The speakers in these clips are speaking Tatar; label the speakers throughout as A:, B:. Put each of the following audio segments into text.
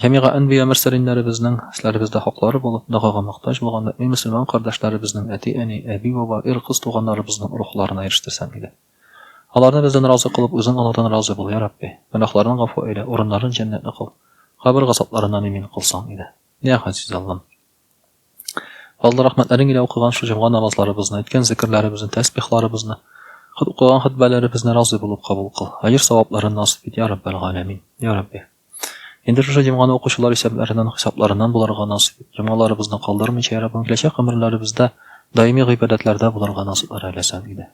A: Җәмигъа әнбия мөрсәлиннәребезнең өсләребездә хаклары булып, догага мохтаҗ булган мөэмин мөселман кардәшләребезнең әти-әни, әби-баба, ир-кыз туганнарыбызның рухларына ирештерсәң иде. Аларны бездән разый кылып, үзең алардан разый бул, йа Рабби! Гөнаһларын гафу әйлә, урыннарын җәннәтле кыл, кабер газапларыннан имин кылсаң иде. Йа Газиз Аллам! Алла рәхмәтләрен илә укыган шу җомга намазларыбызны, әйткән зекерләребезне, тәсбихларыбызны, хот укыган хөтбәләребезне разый булып кабул кыл. Аҗр савапларын насыйп ит, я Раббәл галәмин. Я Рабби. Инде шушы җомганы укучылар исәпләреннән, хисапларыннан булырга насыйп ит. Җомгаларыбызны калдырмыйча, я Раббым, киләчәк гомерләребездә даими гыйбадәтләрдә булырга насыйп ар әләсәң иде.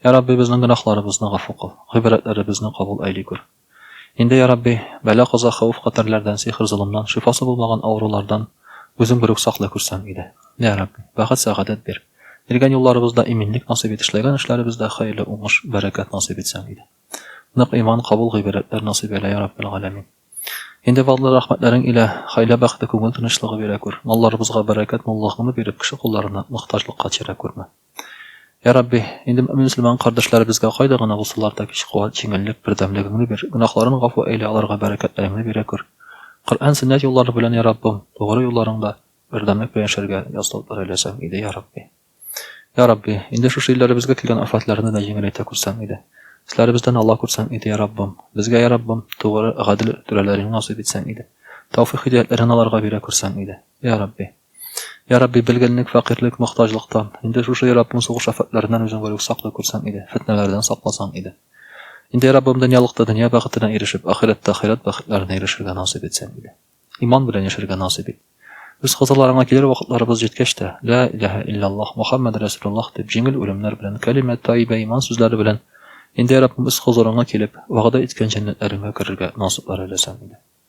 A: Я Рабби, безнең гөнаһларыбызны гафу кыл, гыйбадәтләребезне кабул әйли күр. Инде, я Рабби, бәла-каза, хәвеф-хәтәрләрдән, сихер-золымнан, шифасы булмаган авырулардан үзең берүк саклый күрсәң иде. Йә Рабби, бәхет-сәгадәт бир. Биргән юлларыбызда иминлек насыйп ит, эшләгән эшләребездә хәерле уңыш, бәрәкәт насыйп итсәң иде. Нык иман, кабул гыйбарәтләр насыйп әйлә, я Раббел галәмин. Инде фазлы рәхмәтләрең илә, хәйлә бәхете, күңел тынычлыгы бирә күр. Малларыбызга бәрәкәт, муллыгыңны биреп, кеше кулларына, мохтаҗлыкка тирә күрмә. Йә Рабби, инде мөэмин-мөселман кардәшләребезгә кайда гына булсалар да көч, куәт, җиңеллек, бердәмлегеңне бир, гөнаһларын гафу әйлә, аларга бәрәкәтләреңне бирә күр. Коръән, сөннәт юллары белән, йә Раббым, тугры юлларыңда бердәмлек белән яшәргә ясалып берәйләсәң иде, йә Рабби. Йә Рабби, инде шушы илләребезгә килгән афәтләрне дә җиңеләйтә күрсәң иде. Өсләребездән ала күрсәң иде, йә Раббым. Безгә, йә Раббым, тугры, гадел түрәләреңне насыйп итсәң иде. Тәүфыйк-һидаятләреңне аларга бирә күрсәң иде, йә Рабби. Йа Рабби, белгенлек, фәкыйрьлек, мохтаҗлыктан. Инде шушы Йораббым сугыш афәтләреннән үзең горек саклый күрсәң иде, фетнәләрдән сакласаң иде. Инде Йораббым дөньялыкта дөнья бәхетенә ирешеп, ахирәттә ахирәт бәхетләренә ирешергә насыйп итсәң иде. Иман белән яшәргә насыйп ит. Үз кызыларыңа килер вакытларыбыз җиткәч тә, Лә иләһә илляллаһ, Мөхәммәд рәсүлуллаһ дип, җиңел үлемнәр белән, кәлимә таибә иман сүзләре белән, инде Йораббым үз хозурыңа килеп, вәгъдә иткән җәннәтләреңә керергә насыйплар әйләсәң иде.